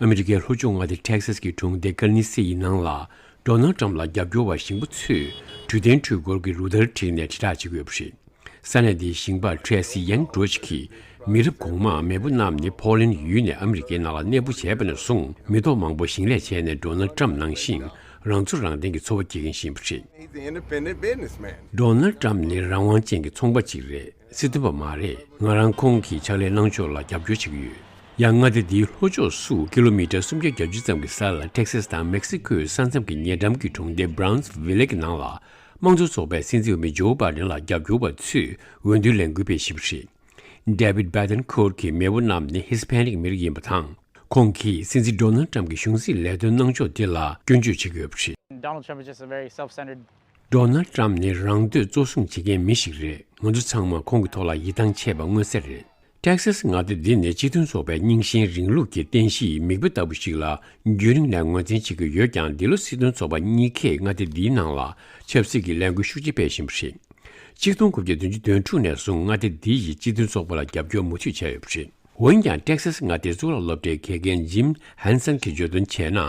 ཨ་མི་རི་ཀའི་ལྷོ་ཕྱོགས་མངའ་སྡེ Texas གྱི་གྲོང་སྡེ་ཀར་ནི་སེ་ཡི་ནང་ལ་འབྲོག་ནག་འགྲམ་ལ་རྒྱབ་སྐྱོར་བ་ཞིང་པ་ཚོས་དུས་གཏན་འཕྲུལ་འཁོར་གྱི་རུ་སྟར་བསྒྲིགས་ནས་དྲིལ་བསྒྲགས་བྱེད་ཀྱི་ཡོད་པ་རེད། ས་གནས་དེའི་ཞིང་པ Tracy Young Droege གྱིས་མི་རབས་གོང་མ་མེས་པོ་རྣམས་ནི་ཕོ་ལན་ཡུལ་ནས་ཨ་མི་རི་ཀའི་ནང་ལ་གནས་སྤོ་བྱས་པ་ནས་བཟུང་མི་ཐོག་མང་པོ་ཞིང་ལས་བྱས་ནས་འབྲོག་ནག་འགྲམ་ནང་བཞིན་རང་ཚོ་རང་བརྟེན་གྱི་འཚོ་བ་སྐྱེལ་མཁན་ཞིང་པ་རེད། འབྲོག་ནག་འགྲམ་ནི་རང་དབང་ཅན་གྱི་ཚོང་པ་ཅིག་རེད། ཚིག་བདེན་པ་མ་རེད་ང་རང་ཁོང་གི་ཕྱག་ལས་གནང་ཕྱོགས་ལ་རྒྱབ་སྐྱོར་བྱེད་ཀྱི་ཡོད། ཡང་མངའ་སྡེ་འདིའི་ལྷོ་ཕྱོགས་སུ་ཀི་ལོ་མི་ཀྲ་སུམ་བརྒྱ་གྱ་བཅུ་ཙམ་གྱི་ས་ལ་ཏེག་སེས་དང་མེག་སི་ཀོའི་ས་མཚམས་ཀྱི་ཉེ་འགྲམ་གྱི་གྲོང་སྡེ Browns Village གི་ནང་ལ་དམངས་གཙོ་ཚོགས་པའི་སྲིད་འཛིན་འོས་མི Joe Biden ལ་རྒྱབ་སྐྱོར་བ་ཚོས་འོས་འདུའི་ལས་འགུལ་སྤེལ་བཞིན་པ་རེད། David Bethencourt གྱི་མེས་པོ་རྣམས་ནི Hispanic མི་རིགས་ཡིན་པ་དང། ཁོང་གིས་སྲིད་འཛིན Donald Trump གྱི་གཞུང་སྲིད་ལས་དོན་གནང་ཕྱོགས་དེ་ལ་སྐྱོན་བརྗོད་བྱེད་ཀྱི་ཡོད་པ་རེད། མདོར་ན་ཀྲམ་ནི་རང་འདོད་གཙོ་བཟུང་བྱེད་མཁན་མི་ཞིག་རེད་ང་ཚོ་ཚང་མ་ཁོང་གི་ཐོག་ལ་ཡིད་ཐང་ཆད་པ་མངོན་གསལ་རེད། Texas མངའ་སྡེ་འདི་ནི་སྤྱི་མཐུན་ཚོགས་པའི་རྙིང་ཞེན་རིང་ལུགས་ཀྱི་རྟེན་གཞིའི་མིག་དཔེ་ལྟ་བུ་ཞིག་ལ་རྒྱུན་རིང་ནས་ངོས་འཛིན་བྱེད་ཀྱི་ཡོད་ཀྱང་འདི་ལོ་སྲིད་དོན་ཚོགས་པ་གཉིས་ཁེ་མངའ་སྡེ་འདིའི་ནང་ལ་ཆབ་སྲིད་ཀྱི་ལས་འགུལ་ཤུགས་ཆེ་སྤེལ་བཞིན་པ་རེད། གཅིག་སྟོང་དགུ་བརྒྱ་བདུན་ཅུ་དོན་དྲུག་ནས་བཟུང་མངའ་སྡེ་འདི་ཡིས་སྤྱི་མཐུན་ཚོགས་པ་ལ་རྒྱབ་སྐྱོར་མུ་མཐུད་བྱས་ཡོད་པ་རེད། འོན་ཀྱང Texas མངའ་སྡེའི་གཙུག་ལག་སློབ་གྲྭའི་དགེ་རྒན Jim Hanson གྱིས་བརྗོད་དོན་བྱས་ན།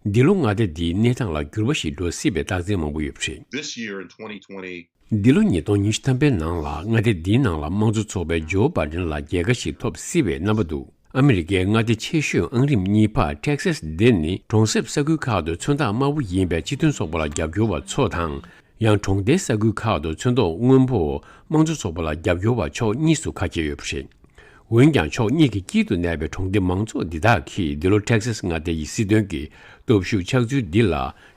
འདི་ལོ་མངའ་སྡེ་འདིའི་གནས་སྟངས་ལ་འགྱུར་བ་ཞིག་འགྲོ་སྲིད་པའི་རྟགས་མཚན་མང་པོ་ཡོད་པ་རེད། This year in twenty twenty, འདི་ལོ་ཉིས་སྟོང་ཉི་ཤུ་ཐམ་པའི་ནང་ལ་མངའ་སྡེ་འདིའི་ནང་ལ་དམངས་གཙོ་ཚོགས་པའི Joe Biden ལ་རྒྱལ་ཁ་ཞིག་ཐོབ་སྲིད་པའི་རྣམ་པ་འདུག་ཨ་མི་རི་ཀའི་མངའ་སྡེ་ཆེ་ཤོས་ཨང་རིམ་གཉིས་པ Texas འདི་ནི་གྲོང་གསེབ་ས་ཁུལ་ཁག་ཏུ་ཚོན་མདངས་དམར་བོ་ཡིན་པའི་སྤྱི་མཐུན་ཚོགས་པ་ལ་རྒྱབ་སྐྱོར་བ་ཚོ་དང། ཡང་གྲོང་རྡལ་ས་ཁུལ་ཁག་ཏུ་ཚོན་མདོག་སྔོན་པོ་དམངས་གཙོ་ཚོགས་པ་ལ་རྒྱབ་སྐྱོར་བ་ཕྱོགས་གཉིས་སུ་ཁ་གྱེས་ཡོད་པ་རེད། འོན་ཀྱང་ཕྱོགས་གཉིས་ཀྱི་དཀྱིལ་དུ་གནས་པའི་གྲོང་སྡེ་མང་ཚོགས་འདི་དག་གིས་འདི་ལོ Texas མངའ་སྡེ་ཡི་སྲིད་དོན་གྱི་སྟོབས་ཤུགས་ཆགས་ཚུལ་འདི་ལ་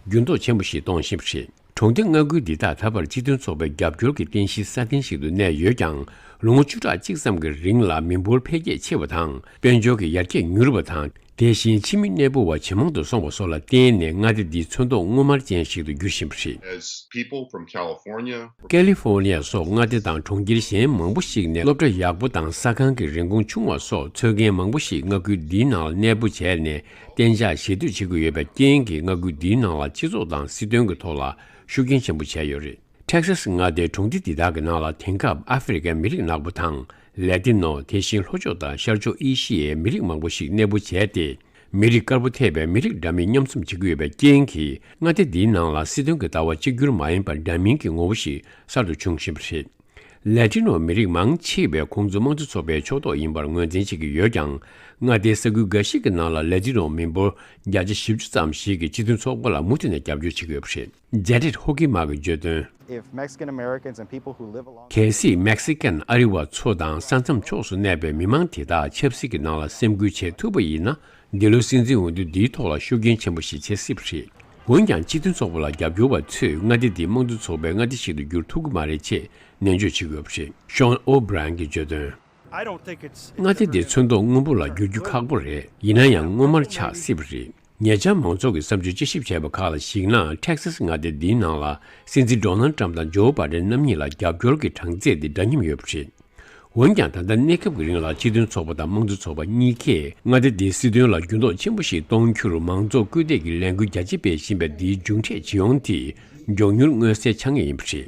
འགྱུར་ལྡོག་ཆེན་པོ་ཞིག་གཏོང་བཞིན་པ་རེད། གྲོང་སྡེ་མངའ་ཁུལ་འདི་དག་ད་བར་སྤྱི་མཐུན་ཚོགས་པའི་རྒྱབ་སྐྱོར་གྱི་རྟེན་གཞིའི་ས་གདན་ཞིག་ཏུ་གནས་ཡོད་ཀྱང་ལོ་ངོ་བཅུ་ཕྲག་གཅིག་ཙམ་གྱི་རིང་ལ་མི་འབོར་འཕེལ་རྒྱས་ཆེ་བ་དང་དཔལ་འབྱོར་གྱི་ཡར་རྒྱས་མྱུར་བ་དང་དེ་བཞིན་ཕྱི་མི་གནས་སྤོ་བ་ཇེ་མང་དུ་སོང་བ་སོགས་ལ་བརྟེན་ནས་མངའ་སྡེ་འདི་ཚོན་མདོག་སྔོ་དམར་ཅན་ཞིག་ཏུ་འགྱུར་བཞིན་པ་རེད། ཀལི་ཧྥོར་ནི་ཡ་སོགས་མངའ་སྡེ་དང་གྲོང་ཁྱེར་གཞན་མང་པོ་ཞིག་ནས་སློབ་གྲྭ་ཡག་པོ་དང་ས་ཁང་གི་རིན་གོང་ཆུང་བ་སོགས་འཚོལ་མཁན་མང་པོ་ཞིག་མངའ་ཁུལ་འདིའི་ནང་ལ་གནས་སྤོ་བྱས་ནས་གཏན་འཇགས་གཞིས་སྡོད་བྱེད་དགོས་ཡོད་པའི་རྐྱེན་གྱིས་མངའ་ཁུལ་འདིའི་ནང་ལ་སྤྱི་ཚོགས་དང་སྲིད་དོན་གྱི་ཐོག་ལ་ཤུགས་རྐྱེན་ཆེན་པོ་བྱས་ཡོད་རེད། Texas མངའ་སྡེའི་གྲོང་སྡེ་འདི་དག་གི་ནང་ལ་དེང་སྐབས་ཨ་ཕི་རི་ཀའི་མི་རིགས་ནག་པོ་དང་ལེ་ཏི་ནོ་དེ་བཞིན་ལྷོ་ཕྱོགས་དང་ཤར་ཕྱོགས་ཨེ་ཤི་ཡའི་མི་རིགས་མང་པོ་ཞིག་གནས་སྤོ་བྱས་ཏེ། མི་རིགས་དཀར་པོ་ཐེ་བའི་མི་རིགས་འདྲ་མིན་མཉམ་འཛོམས་བྱེད་ཀྱི་ཡོད་པའི་རྐྱེན་གྱིས་མངའ་སྡེ་འདིའི་ནང་ལ་སྲིད་དོན་གྱི་ལྟ་བ་གཅིག་གྱུར་མ་ཡིན་པར་འདྲ་མིན་གྱི་ངོ་བོ་ཞིག་གསར་དུ་འབྱུང་བཞིན་པ་རེད། ལེ་ཏི་ནོ་མི་རིགས་མང་ཆེ་བས་ཁོང་ཚོ་དམངས་གཙོ་ཚོགས་པའི་ཕྱོགས་གཏོགས་ཡིན་པར་ངོས་འཛིན་བྱེད་ཀྱི་ཡོད་ཀྱང་མངའ་སྡེའི་ས་ཁུལ་འགའ་ཞིག་གི་ནང་ལ་ལེ་ཏི་ནོ་མི་འབོར་བརྒྱ་ཆ་བཞི་བཅུ་ཙམ་ཞིག་གིས་སྤྱི་མཐུན་ཚོགས་པ་ལ་མུ་མཐུད་ནས་རྒྱབ་སྐྱོར་བྱེད་ཀྱི་ཡོད་པ་རེད། རྒྱ་རིར་ཧོ་ཀི་མ་གི་བརྗོད་དོན། གལ་སྲིད་མེག་སི་ཀན་ཨ་རི་བ་ཚོ་དང་ས་མཚམས་ཕྱོགས་སུ་གནས་པའི་མི་མང་དེ་དག་ཆབ་སྲིད་ཀྱི་ནང་ལ་སེམས་ཁུར་བྱེད་ཐུབ་པ་ཡིན་ན་འདི་ལོའི་སྲིད་འཛིན་འོས་བསྡུ་འདིའི་ཐོག་ལ་ཤུགས་རྐྱེན་ཆེན་པོ་ཞིག་བྱེད་སྲིད་པ་རེད། འོན་ཀྱང་སྤྱི་མཐུན་ཚོགས་པ་ལ་རྒྱབ་སྐྱོར་བ་ཚོས་མངའ་སྡེ་འདི་དམངས་གཙོ་ཚོགས་པའི་མངའ་སྡེ་ཞིག་ཏུ་འགྱུར་ཐུབ་ཀྱི་མ་རེད་ཅེས་ནན་བརྗོད་བྱེད་དགོས་པ་རེད Sean O Brien གྱིས་བརྗོད་དོན། མངའ་སྡེ་འདི་ཚོན་མདོག་སྔོན་པོ་ལ་འགྱུར་རྒྱུ་ཁག་པོ་རེད། ཡིན་ན་ཡང་སྔོ་དམར་ཆགས་སྲིད་པ་རེད། ཉེ་ཆར་མང་ཚོགས་ཀྱི་བསམ་ཚུལ་དཔྱད་ཞིབ་བྱས་པ་ཁག་ལ་གཞིགས་ན Texas མངའ་སྡེ་འདིའི་ནང་ལ་སྲིད་འཛིན Donald Trump དང Joe Biden རྣམ་གཉིས་ལ་རྒྱབ་སྐྱོར་གྱི་གྲངས་ཚད་དེ་འདྲ་མཉམ་ཡོད་པ་རེད། འོན་ཀྱང་ད་ལྟ་གནས་སྐབས་ཀྱི་རིང་ལ་སྤྱི་མཐུན་ཚོགས་པ་དང་དམངས་གཙོ་ཚོགས་པ་གཉིས་ཀས་མངའ་སྡེ་འདིའི་སྲིད་དོན་ལ་འགྱུར་ལྡོག་ཆེན་པོ་ཞིག་གཏོང་རྒྱུར་མང་ཚོགས་སྐུལ་འདེད་ཀྱི་ལས་འགུལ་རྒྱ་ཆེ་སྤེལ་བཞིན་པའི་འདིའི་མཇུག་འབྲས་ཇི་ཡོང་དེ་མགྱོགས་མྱུར་མངོན་གསལ་ཆགས་ངེས་ཡིན་པ་རེད།